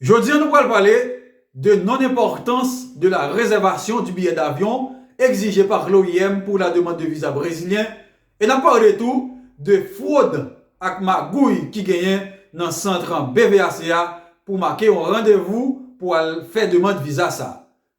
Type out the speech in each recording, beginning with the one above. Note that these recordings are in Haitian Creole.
Jodi an nou pral pale de non enpòtans de la rezèvasyon di biyè davyon egzije par l'OIM pou la demand de viza brezilyen e nap parle tou de fwod ak magouy ki genyen nan santr BVAC a pou make yon randevou pou al fè demand viza sa.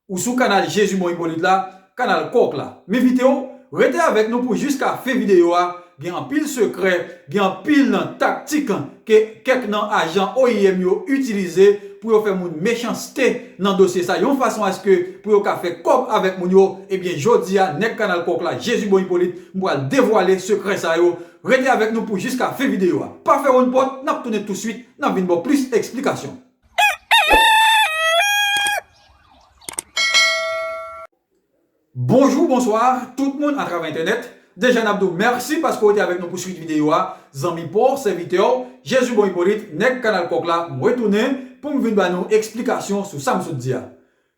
Ou sou kanal Jezumon Hyppolite la, kanal kòk la. M envite w rete avèk nou pou jiska fen videyo a, gen anpil sekrè, gen anpil nan taktik ke kèk nan ajan oim yo itilize pou yo fè moun mechanste nan dosye sa yon fason aske pou yo ka fè kòb avèk moun yo, ebyen jodi a nèg kanal kòk la Jezubon Hyppolite m pral devwale sekrè sa yo, rete avèk nou pou jiska fen videyo a. Pa fèwonn pòt, n ap tounen touswit, n ap vin ba w plis eksplikasyon. Bonjou bonswa tout moun atravè entènèt deja nap diw mèsi paske ou te avèk nou pou swit videyo a zanmi paw sèvitèw Jezi bon Ipolit nèg kanal kòk la mwen tounen poum vin ba nou eksplikasyon sou sam sot di a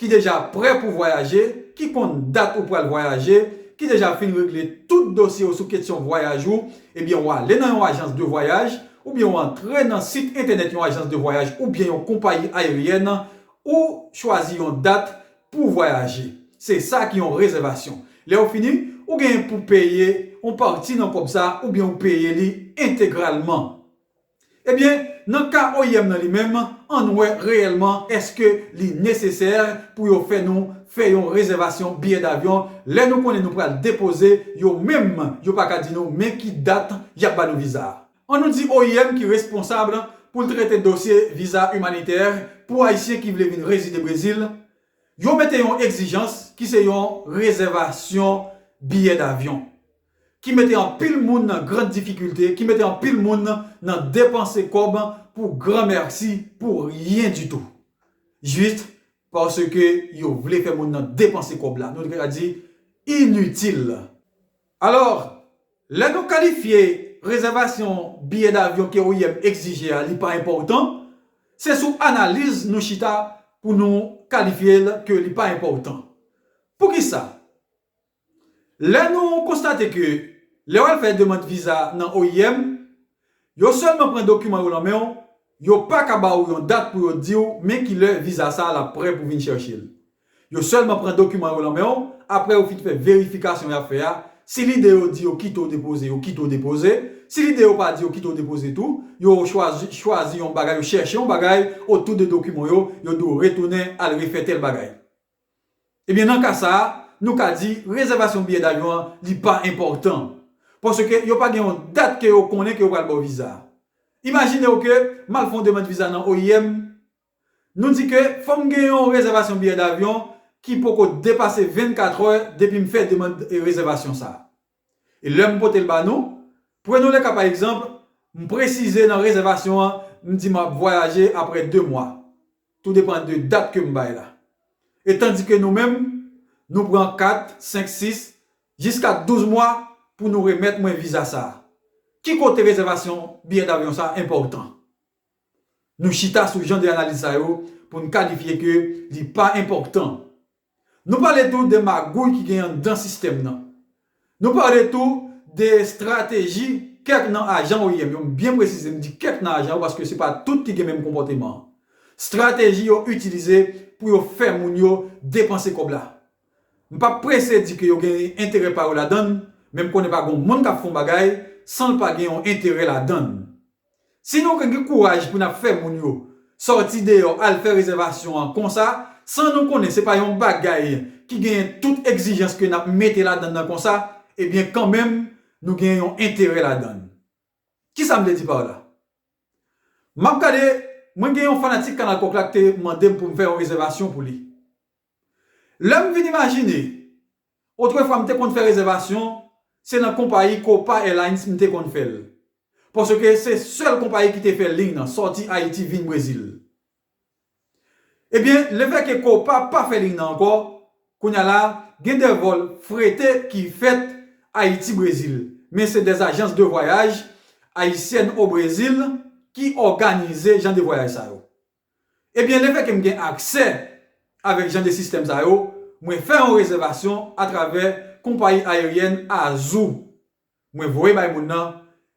ki deja prè pou vwayaje, ki konn dat ou pral vwayaje, ki deja fin regle tout dosye ou sou ketsyon vwayaj ou, ebyen ou ale nan yon ajans de vwayaj, oubyen ou antre nan sit entènèt yon ajans de vwayaj oubyen yon konpayi ayeryèn, ou chwazi yon dat pou vwayaje. Se sa ki yon rezèvasyon. Lè ou fini, ou genyen pou peye yon pati nan kòb sa oubyen ou peye li entegralman. Ebyen, nan ka oim nan li menm, ann wè reyèlman èske li nesesè pou yo fè nou fè yon rezèvasyon biyè davyon lè nou konnen nou pral depoze yo menm yo pa ka di nou men ki dat y ap ba nou viza. An nou di oim ki responsab pou l trete dosye viza imanitè pou ayisyen ki vle vin rezide Brezil, yo mete yon egzijans ki se yon rezèvasyon biyè davyon. ki mete anpil moun nan grand difikilte, ki mete anpil moun nan depanse kòb pou gran mèsi, pou ryen ditou. Jis paske yo vle fè moun nan depanse kòb la, nou ka di initil. Alò, lè nou kalifye rezèvasyon biyè davyon ke oim egzije a li pa enpòtan, se sou analiz nou chita pou nou kalifye l ke li pa enpòtan. Poukisa? Lè nou konstate ke lè w al fè demand viza nan oim, yo sèlman pran dokiman yo lan men w, yo pa ka ba ou yon dat pou yo di w men ki lè viza sa a l ap prè pou vin chèche l. Yo sèlman pran dokiman yo lan men w apre yo fin fè verifikasyon y ap fè a, si lide yo di yo kite w depoze, yo kite w depoze, si lide yo pa di yo kite w depoze tou, yo chwazi chwazi yon bagay, yo chèche yon bagay otou de dokiman w yo, yo di w retounen al refè tèl bagay. Ebyen nan ka sa a, nou ka di rezèvasyon biyè davyon an li pa enpòtan. Paske yo pa gen yon dat ke yo konnen ke yo pral ba w viza a. Imajinew ke m al fè yon demand viza nan oim, nou di ke fò m gen yon rezèvasyon biyè davyon ki poko depase 24 è depi m fè demand rezèvasyon sa a. E lè m pote l ba nou, prenons le cas par exemple, m presize nan rezèvasyon an, m di m ap vwayaje aprè 2 mwa, tou depan de dat ke m bay la. E tandike nou menm, nou pran 4, 5, 6, jiska 12 mwa pou nou remèt mwen viza sa. Ki kote rezèvasyon biyè davyon sa enpòtan? Nou chita sou jan de analiz sa yo pou n kalifye ke li pa enpòtan. Nou pale tou de magouy ki gen anndan sistèm nan. Nou pale tou de estrateji kèk nan ajan oim yo, m byen presize m di kèk nan ajan yo paske se pa tout ki gen menm konpòteman an. Strateji yo itilize pou yo fè moun yo depanse kòb la. M pap prese di ke yo gen enterè pa yo ladann, men m konnen pa gon moun k ap fon bagay san l pa gen yon enterè ladann. Si nou ka gen kouraj pou nap fè moun yo sòti deyò al fè rezèvasyon an konsa san nou konnen se pa yon bagay ki genyen tout egzijans ke nap mete ladann nan konsa ebyen kanmenm nou gen yon enterè ladann. Kisa m vle di par la? Map gade mwen gen yon fanatik kanal kòk la k te mandem poum fè yon rezèvasyon pou li. Lè m vin imajine, otrefwa m te konn fè rezèvasyon, se nan konpayi Copa Airlines m te konn fè l, paske se sèl konpayi ki te fè liy nan, sòti Ayiti vin Brezil. Ebyen, lefèke Copa pa fè liy nan ankò, kounye a la, gen de vòl frete ki fèt Ayiti-Brezil, men se des agences de voyages haïtiennes au Brésil ki òganize jan de vwayaj sa yo. Ebyen lefè ke m gen aksè avèk jan de sistèm sa yo, mwen fè yon rezèvasyon atravè konpayi ayeryèn Azul. Mwen voye bay moun nan,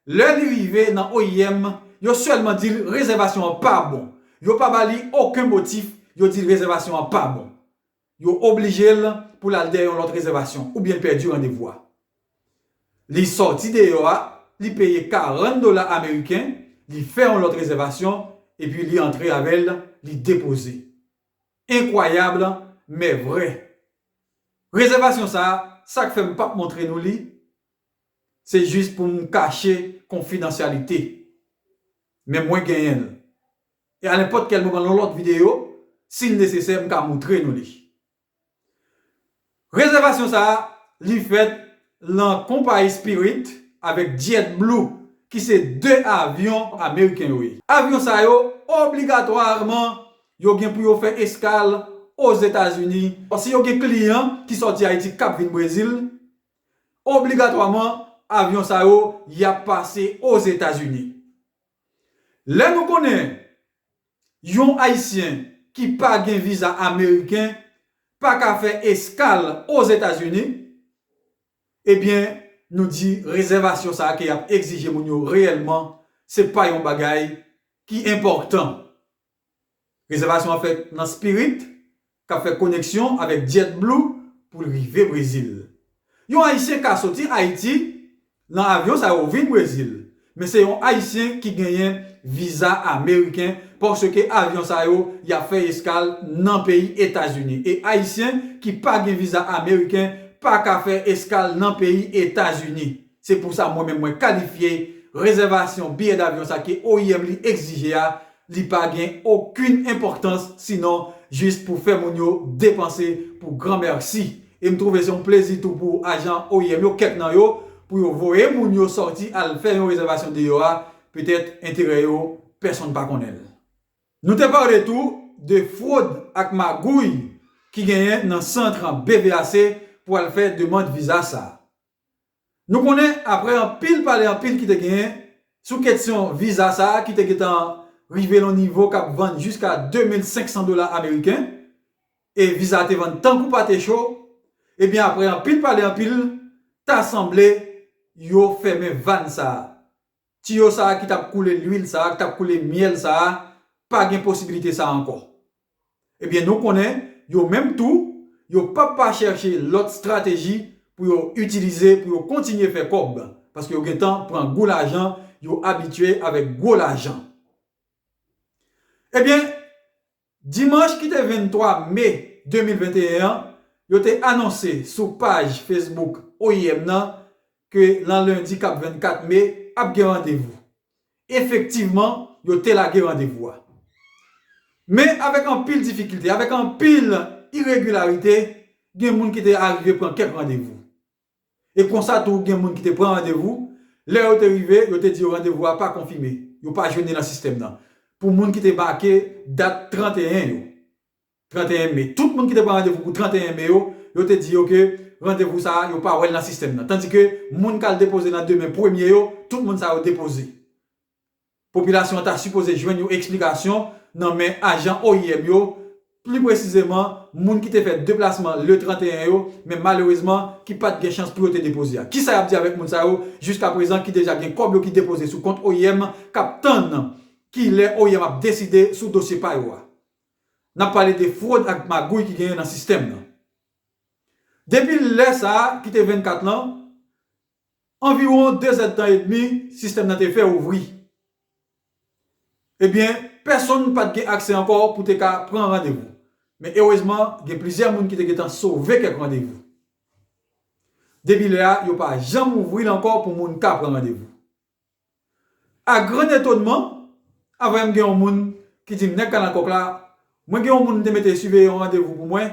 lè li rive nan oim, yo sèlman di l rezèvasyon an pa bon. Yo pa ba li oken motif, yo di l rezèvasyon an pa bon. Yo oblije l pou l al dèyè yon lòt rezèvasyon oubyen l pèdi randevou a. Li sòti deyò a, li peye 40 dola ameriken, li fè yon lòt rezèvasyon, epi li antre avè l, li depoze. Enkwayab, men vrè. Rezèvasyon sa a, sa k fè m pap montre nou li, se jis pou m kache konfidansyalite. Men mwen genyen l. E a nenpòt kèl moman nan lòt videyo, si l nesesè, m ka moutre nou li. Rezèvasyon sa a, li fèt lan konpayi Spirit avèk JetBlue ki se 2 avyon ameriken yo ye. Avyon sa yo, obligatwaman, yo gen pou yo fè eskal Ozetazini. Si yo gen kliyan ki sòti Ayiti k ap vin Brezil, obligatwaman, avyon sa yo, y ap pase Ozetazini. Lè nou konnen yon ayisyen ki pa gen viza ameriken pa ka fè eskal Ozetazini, ebyen nou di rezèvasyon sa ke y ap egzije moun yo reyèlman se pa yon bagay ki enpòtan. Rezèvasyon an fèt nan Spirit k ap fè koneksyon avèk JetBlue pou l rive Brezil. Yon Ayisyen ka soti Ayiti nan avyon sa yo vin Brezil, men se yon Ayisyen ki genyen viza ameriken paske avyon sa yo y ap fè eskal nan peyi Etazini e Ayisyen ki pa gen viza ameriken pa ka fè eskal nan peyi Etazini. Se pou sa mwen menm mwen kalifye rezèvasyon biyè davyon sa ke oim li egzije a, li pa gen okin enpòktans sinon jis pou fè moun yo depanse pou gran mèsi. E m twouve se yon plezi tou pou ajan oim yo, kèk nan yo, pou yo voye moun yo sòti al fè yon rezèvasyon deyò a, petèt enterè yo pèsonn pa konnen l. Nou te pale tou de fwod ak magouy ki genyen nan santr BVAC pou al fè demand viza sa. Nou konnen aprè anpil pale anpil ki te genyen sou ketsyon viza sa ki te gentan rive lon nivo kap vann jiska 2500 dola ameriken e viza te vann tankou pate cho ebyen aprè anpil pale anpil ta sanble yo fèmen vann sa. Tiyo sa a ki t ap koule luil sa a, ki t ap koule myèl sa a, pa gen posibilite sa a ankò. Ebyen, nou konnen, yo menm tou, yo pap pa chèche lòt strateji pou yo itilize pou yo kontinye fè kòb, paske yo gentan pran gou lajan, yo abitye avèk gwo lajan. Ebyen, Dimanch ki te 23 me 2021 an, yo te anonse sou paj Facebook oim nan ke nan lendi k ap 24 me ap gen randevou. Efektivman, yo te lage randevou a. Men avèk anpil difikilte, avèk anpil iregilarite, gen moun ki te arive pran kèk randevou. E konsa tou gen moun ki te pran randevou, lè yo te rive, yo te di yo randevou a pa konfime, yo pa jwenn li nan sistèm nan. Pou moun ki te make dat 31 yo, 31 me, tout moun ki te pran randevou pou 31 me yo, yo te di yo ke randevou sa a, yo pa wè l nan sistèm nan. Tandike, moun k al depoze nan demen premye yo, tout moun sa yo depoze. Popilasyon an ta sipoze jwenn yon eksplikasyon nan men ajan oim yo, pli presizeman moun ki te fè deplasman le 31 yo, men malerezman ki pat gen chans pou yo te depoze a. Kisa y ap di avèk moun sa yo jiska prezan ki deja gen kòb yo ki depoze sou kont oim k ap tann ki lè oim ap deside sou dosye pa yo a? N ap pale de fwod ak magouy ki genyen nan sistèm nan. Depi lè sa a ki te 24 lan, Anviwon dezèdtan edmi sistèm nan te fè ouvri. Ebyen, pèsonn pa t gen aksè ankò pou te ka pran randevou. Men erezman, gen plizyè moun ki te gentan sove kèk randevou. Depi lè a, yo pa janm ouvri l ankò pou moun ka pran randevou. A grand etonman, aprè m gen yon moun ki di m nèg Kalannkòk la, mwen gen yon moun m te mete siveye yon randevou pou mwen,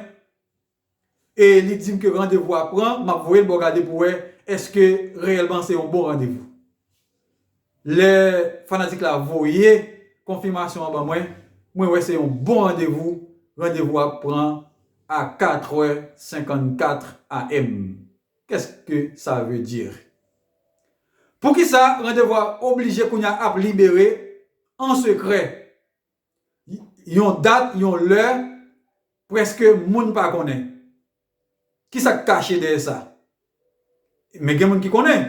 e li di m ke randevou a pran, m ap voye l ba w gade pou w wè èske reyèlman se yon bon randevou. Lè fanatik la voye konfimasyon an ban mwen, mwen wè se yon bon randevou, randevou a pran a 4 è 54 AM. Qu'est-ce que ça veut dire? Poukisa randevou a oblije kounya ap libere an sekrè? Yon dat, yon lè, prèske moun pa konnen. Kisa k kache dèyè sa? Men gen moun ki konnen?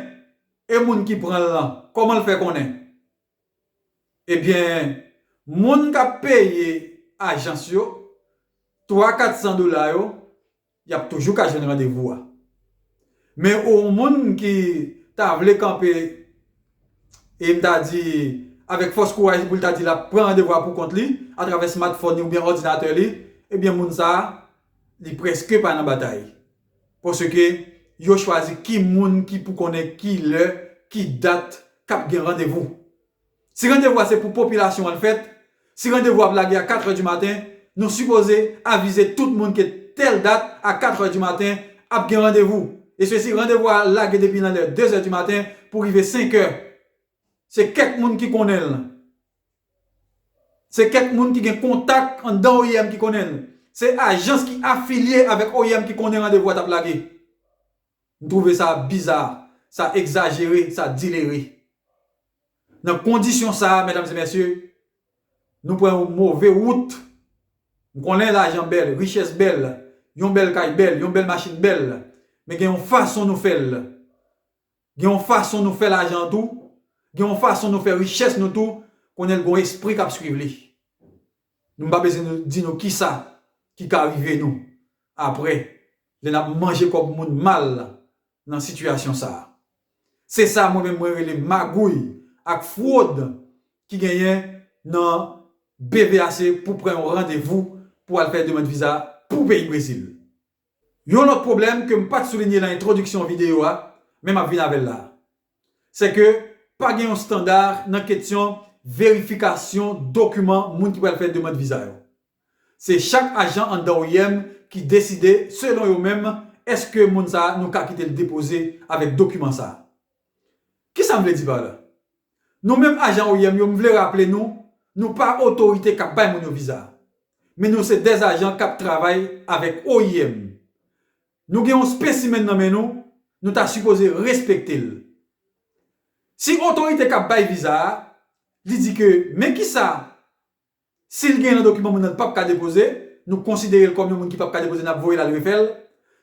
E moun ki pran l lan, kòman l fè konnen? Ebyen moun kap peye ajans yo 3 400 dola yo yap toujou ka jwenn randevou a. Men ou yon moun ki ta vle kanpe e m ta di avèk fòs kouraj li pou l ta di lap pran randevou a pou kont li atravè smartphone li oubyen òdinatè li ebyen moun sa li prèske pa nan batay. Paske, yo chwazi ki moun ki pou konnen ki lè, ki dat k ap gen randevou. Si randevou a se pou popilasyon an l fèt, si randevou a ap lage a katrè di maten, nou sipoze avize tout moun ke tèl dat a katrè di maten ap gen randevou. Eswesi randevou a lage depi nan lè dezè di maten pou rive senkè Se kèk moun ki konnen l. Se kèk moun ki gen kontak anndan oim ki konnen l. Se ajans ki afilye avèk oim ki konnen randevou a t ap lage. M twouve sa biza, sa egzajere, sa dilere. Nan kondisyon sa a, medam e mesye, nou pran yon move wout. M konnen lajan bèl, richès bèl, yon bèl kay bèl, yon bèl machin bèl, men gen yon fason nou fè l. Gen yon fason nou fè lajan an tou, gen yon fason nou fè richès nou tou, konnen l gen yon espri k ap suiv li. Nou m pa bezwen di nou kisa ki ka rive nou aprè lè n ap manje kòb moun mal nan sitiyasyon sa a. Se sa mwen menm mwen rele magouy ak fwod ki genyen nan BVAC pou pran yon randevou pou al fè demand viza pou peyi Brezil. Yon lòt pwoblèm ke m pat soulinye lan entwodiksyon videyo a, men map vin avèl la a. Sè ke pa gen yon standa nan ketyon verifikasyon dokiman moun ki pral fè demand viza yo. Se chak ajan anndan oim ki deside selon yo menm eske moun sa a nou ka kite l depoze avèk dokiman sa a. Kisa m vle di pa la? Nou menm ajan oim yo m vle raple nou, nou pa otorite k ap bay moun yo viza. Men nou se de ajan k ap travay avèk oim. Nou gen yon spesimenn nan men nou, nou ta sipoze respekte l. Si otorite k ap bay viza a, li di ke men kisa Si l gen nan dokiman moun nan l pap ka depoze, nou konsidere l kòm yon moun ki pap ka depoze n ap voye l al refè l.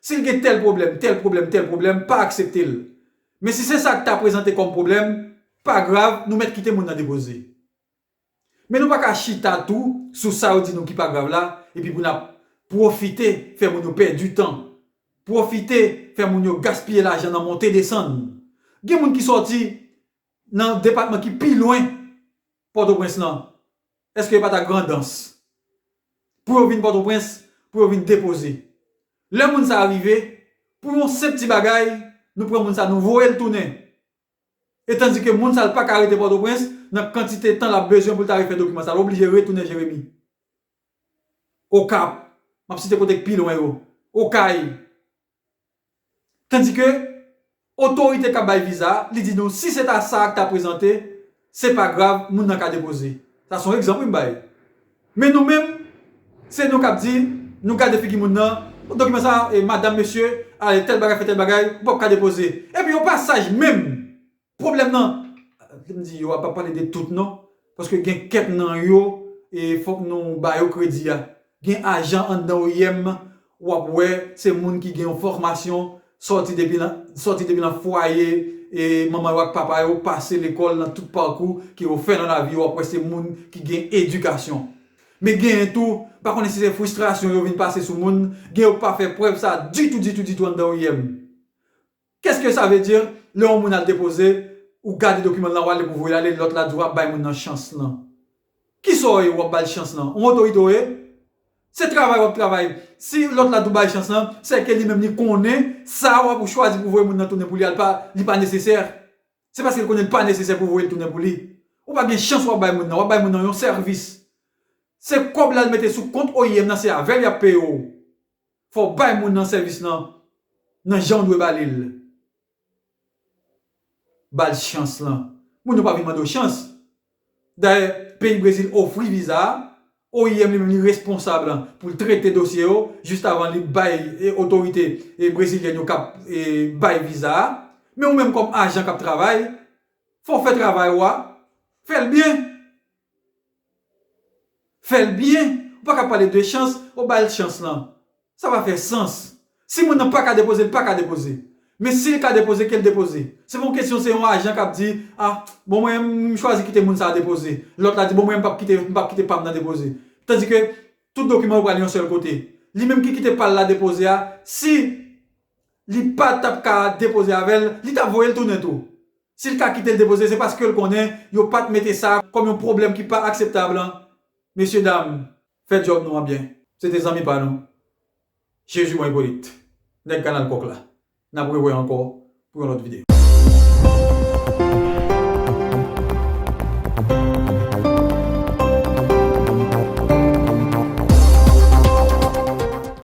Si l gen tèl pwoblèm, tèl pwoblèm, tèl pwoblèm, pa aksepte l. Men si se sa k ta prezante kòm pwoblèm, pa grav, nou mèt kite moun nan depoze. Men nou pa ka chita tou sou sa yo di nou ki pa grav la epi pou n ap pwofite fè moun yo pèdi tan, pwofite fè moun yo gaspiye lajan nan monte desann. Gen moun ki sòti nan depatman ki pi lwen Pòtoprens lan? Eske yo pa ta Grandans? Pou yo vin Pòtoprens, pou yo vin depoze. Lè moun sa a rive, pou yon senp ti bagay, nou pran moun sa a nou voye l tounen. E tandike moun sa l pa ka rete Pòtoprens, nan kantite tan l ap bezwen pou l ta refè dokiman sa a, l oblije retounen Jeremi. Okap, m ap site kote k pi lwen yo. Okay, Tandike otorite kap bay viza a li di nou si se ta sa ak ta prezante se pa grav moun nan ka depoze. Sa son egzanp wi m bay. Men nou menm se nou kap di nou gade figi moun nan bon dokiman sa madam mesye ale tèl bagay fè tèl bagay ou pap ka depoze. Epi yo pa saj menm. Pwoblèm nan, ke m di yo a, pa pale de tout non, paske gen kèk nan yo, e fòk nou ba yo kredi a, gen ajan anndan oim, w ap wè se moun ki gen yon fòmasyon, sòti depi nan, sòti depi nan fwaye e manman yo ak papa yo, pase lekòl nan tout pakou ke yo fè nan lavi yo, w ap wè se moun ki gen edikasyon. Men genyen tou, m pa konnen si se fristrasyon yo vin pase sou moun, gen yo k pa fè prèv sa ditou, ditou, ditou anndan oim. Qu'est ce que ça veut dire lè yon moun al depoze ou gade dokiman l lan wale pou voye l ale lòt la di w ap bay moun nan chans lan kisa w ye wap bal chans lan yon otorite w ye se travay wap travay si lòt la di w bay chans lan sè ke li menm li konnen sa wap ou chwazi pou voye moun nan tounen pou li al pa li pa nesesè se paske l konnen li pa nesesè pou voye l tounen pou li ou pa gen chans wap bay moun nan wap bay moun nan yon sèvis se kòb la l mete sou kont oim nan se avè l yap peye w. Fò w bay moun nan sèvis lan nan jan w dwe ba li l. Ba l chans lan. Moun yo pa vin mande w chans. Dayè, peyi Brezil ofri viza a, oim li menm li responsab pou l trete dosye yo jistavan li bay otorite brezilyèn yo k ap bay viza a. Men ou menm kòm ajan k ap travay, fò w fè travay ou a, fè l byen. Fè l byen, ou pa ka pale de chans, ou ba l chans lan. Sa pa fè sans. Si moun nan pa ka depoze, li pa ka depoze. Men si li ka depoze, ke l depoze. Se pa yon kesyon se yon ajan k ap di, a, bon mwen, m chwazi kite moun sa a depoze. Lòt la di, bon mwen, m p ap kite, m p ap kite pa m nan depoze. Tandi ke tout dokiman yo pral yon sèl kote. Li menm ki kite pa l la depoze a, si li pa t ap ka depoze avè l, li ta voye l tounen tou. Si l ka kite l depoze se paske l konnen yo pat mete sa kòm yon pwoblèm ki pa akseptab an mesye dam fè djòb nou an byen. Se te zanmi pa nou Jezi bon Ipolit nèg kanal kòk la nap rewè ankò pou yon lòt video.